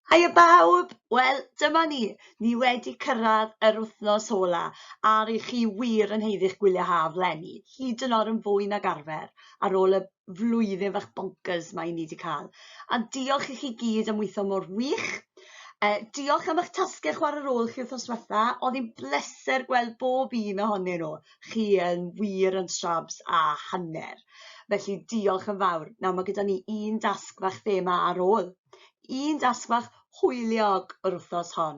Hiya bawb! Wel, dyma ni, ni wedi cyrraedd yr wythnos ola, a rydych chi wir yn heiddi'ch gwyliau haf lenni, hyd yn oed yn fwy nag arfer, ar ôl y flwyddyn fach bonkers mae ni wedi cael. A diolch i chi gyd am weithio mor wych. E, diolch am eich tasgau chwarae rôl chi wythnos diwetha, oedd hi'n bleser gweld bob un ohonyn nhw. Chi yn wir yn shrabs a hanner. Felly diolch yn fawr. Nawr mae gyda ni un dasg fach thema ar ôl. un dasg fach hwyliog yr wythnos hon.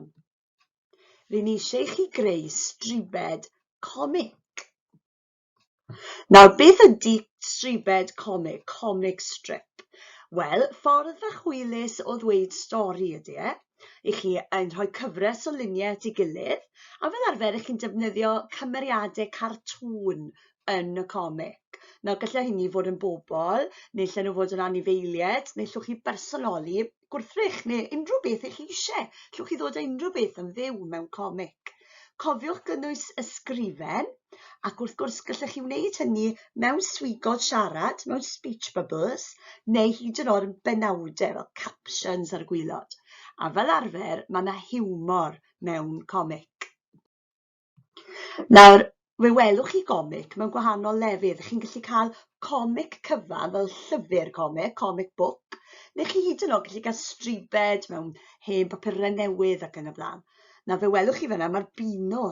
Rwy'n eisiau i chi greu stribed comic. Nawr, beth ydy stribed comic, comic strip? Wel, ffordd fach hwylus o ddweud stori ydy e. I chi yn rhoi cyfres o luniau at ei gilydd, a fel arfer, i chi'n defnyddio cymeriadau cartŵn yn y comic. Nawr gallai hynny fod yn bobl, neu lle nhw fod yn anifeiliaid, neu llwch chi bersonoli gwrthrych, neu unrhyw beth eich chi eisiau. Llwch chi ddod â unrhyw beth yn fyw mewn comic. Cofiwch gynnwys ysgrifen, ac wrth gwrs gallech chi wneud hynny mewn swigod siarad, mewn speech bubbles, neu hyd yn oed yn benawdau fel captions ar y gwylod. A fel arfer, mae yna hiwmor mewn comic. Nawr, fe welwch chi gomic mewn gwahanol lefydd. Chi'n gallu cael comic cyfan fel llyfr comic, comic book, neu chi hyd yn oed gallu cael stribed mewn hen bapurau newydd ac yn y blaen. Nawr, fe welwch chi fyna, mae'r bino.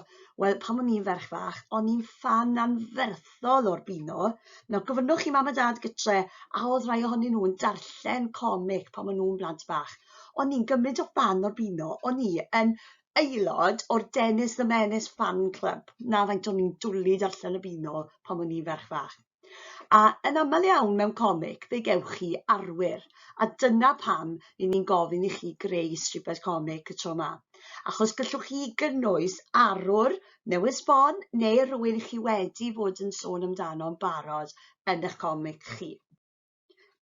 Wel, pan o'n i'n ferch fach, o'n i'n ffan anferthol o'r bino. Nawr, gofynnwch chi mam a dad gytre, a oedd rhai ohonyn nhw'n darllen comic pan o'n nhw'n blant bach. O'n i'n gymryd o fan o'r bino, o'n i yn aelod o'r Dennis the Menace fan club. Na, faint o'n i'n dwlu darllen y bino pan o'n i'n ferch fach. A yn aml iawn mewn comic, fe gewch chi arwyr, a dyna pam i ni'n gofyn i chi greu stribed comic y tro ma. Achos gallwch chi gynnwys arwr newydd sbon neu rhywun i chi wedi fod yn sôn amdano'n barod yn eich comic chi.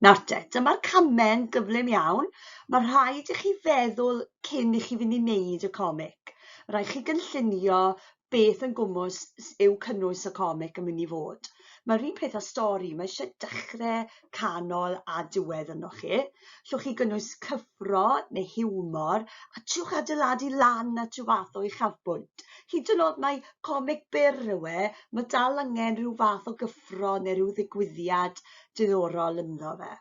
Nawr te, dyma'r camau'n gyflym iawn. Mae rhaid i chi feddwl cyn i chi fynd i wneud y comic. Rhaid chi gynllunio beth yn gwmwys yw cynnwys y comic yn mynd i fod. Mae'r un peth â stori, mae eisiau dechrau, canol a diwedd yno chi. Llwch chi gynnwys cyffro neu hiwmor a trwch adeiladu lan at rhyw fath o uchafbwynt. Hyd yn oed mae comic byr yw e, mae dal angen rhyw fath o gyffro neu rhyw ddigwyddiad diddorol ynddo fe.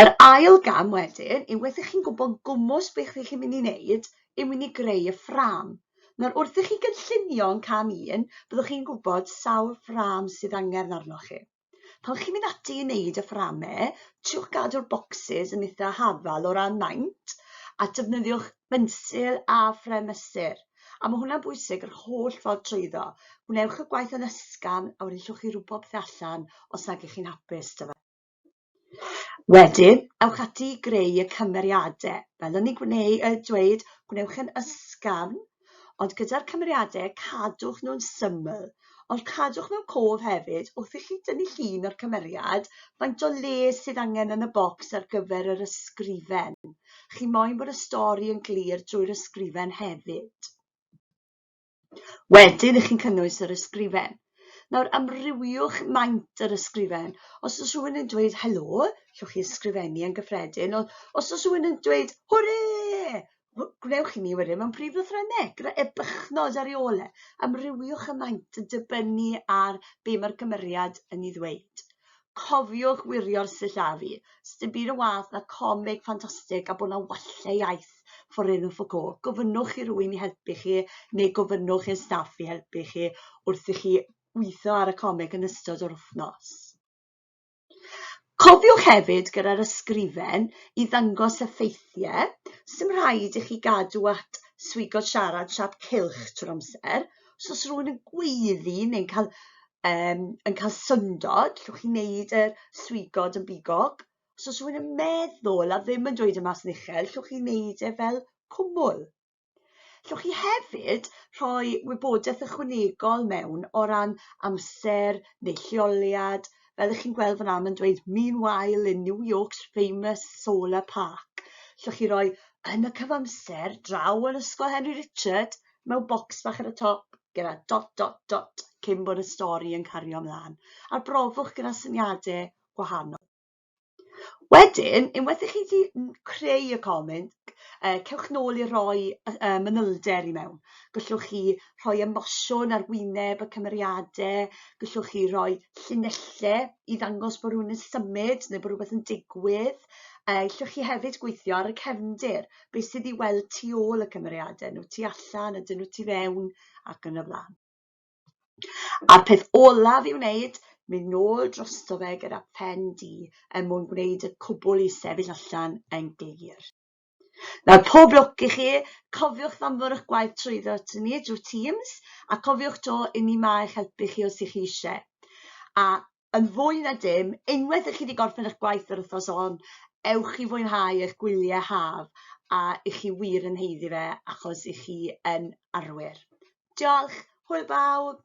Yr ail gam wedyn yw wrth i chi'n gwybod gwmws beth ych chi'n mynd i wneud yw mynd i greu y ffrâm. Nawr wrth i chi gynllunio yn cam un, byddwch chi'n gwybod sawl ffrâm sydd angen arnoch chi. Pan chi'n mynd ati i wneud y fframau, triwch gadw'r bocsys yn eitha' hafal o ran maint a defnyddiwch bensil a phrymysur. A mae hwnna'n bwysig, yr holl ffordd trwyddo. Gwnewch y gwaith yn ysgafn a wedyn llwch chi rwbod pethau allan os nag ych chi'n hapus da fe. Wedyn, ewch ati i greu y cymeriadau. Fel o'n i'n gwneud, uh, dweud, gwnewch yn ysgafn, ond gyda'r cymeriadau cadwch nhw'n syml. Ond cadwch mewn cof hefyd, wrth i chi dynnu llun o'r cymeriad, faint o le sydd angen yn y bocs ar gyfer yr ysgrifen. Chi moyn bod y stori yn glir drwy'r ysgrifen hefyd. Wedyn ych chi'n cynnwys yr ysgrifen. Nawr amrywiwch maint yr ysgrifen. Os oes rhywun yn dweud helo, llwch chi ysgrifennu yn gyffredin. Os oes rhywun yn dweud hwre, gwnewch i mi wedyn mewn prif lythrennau, gyda ebychnod ar ei ôl e. Amrywiwch y maint yn dibynnu ar be mae'r cymeriad yn ei ddweud. Cofiwch wirio'r sillafu. Sdim byd yn wath na comig ffantastig a bod na wallau iaith forenw ffwco. Gofynnwch i rywun i helpu chi neu gofynnwch i'r staff i helpu chi wrth i chi weithio ar y comig yn ystod yr wythnos. Cofiwch hefyd gyda'r ysgrifen i ddangos y ffeithiau, sdim rhaid i chi gadw at swigo siarad siap cylch trwy'r amser, so os rhywun yn gweiddi neu'n cael yym yn cael syndod, allwch chi wneud y swigod yn bigog, so os rhywun yn meddwl a ddim yn dweud e mas yn uchel, allwch chi wneud e fel cwmwl. Llwch chi hefyd rhoi wybodaeth ychwanegol mewn o ran amser neu lleoliad. Fel ych chi'n gweld fyna, mae'n dweud Meanwhile in New York's famous solar park. Llwch chi roi yn y cyfamser draw yn Ysgol Henry Richard mewn bocs bach ar y top gyda dot dot dot cyn bod y stori yn cario ymlaen. A'r brofwch gyda syniadau gwahanol. Wedyn, unwaith i chi wedi creu y comment, uh, cewch nôl i roi uh, manylder i mewn. Gallwch chi rhoi emosiwn ar wyneb y cymeriadau, gallwch chi roi llinellau i ddangos bod rhywun yn symud neu bod rhywbeth yn digwydd. Uh, gallwch chi hefyd gweithio ar y cefndir, beth sydd i weld tu ôl y cymeriadau, nhw tu allan, ydyn nhw tu fewn ac yn y blaen. A'r peth olaf i'w wneud, mynd nôl drosto fe gyda phen du er mwyn gwneud y cwbl i sefyll allan yn glir. Nawr, pob lwc i chi, cofiwch ddanfwr'ch gwaith trwyddo ato ni drwy Teams, a cofiwch 'to, 'yn ni 'ma i'ch helpu chi os y'ch chi eisiau. A yn fwy na dim, unwaith i chi wedi gorffen eich gwaith yr wythnos hon, ewch i fwynhau eich gwyliau haf a i chi wir yn heiddi fe achos i chi yn arwyr. Diolch, hwyl bawb!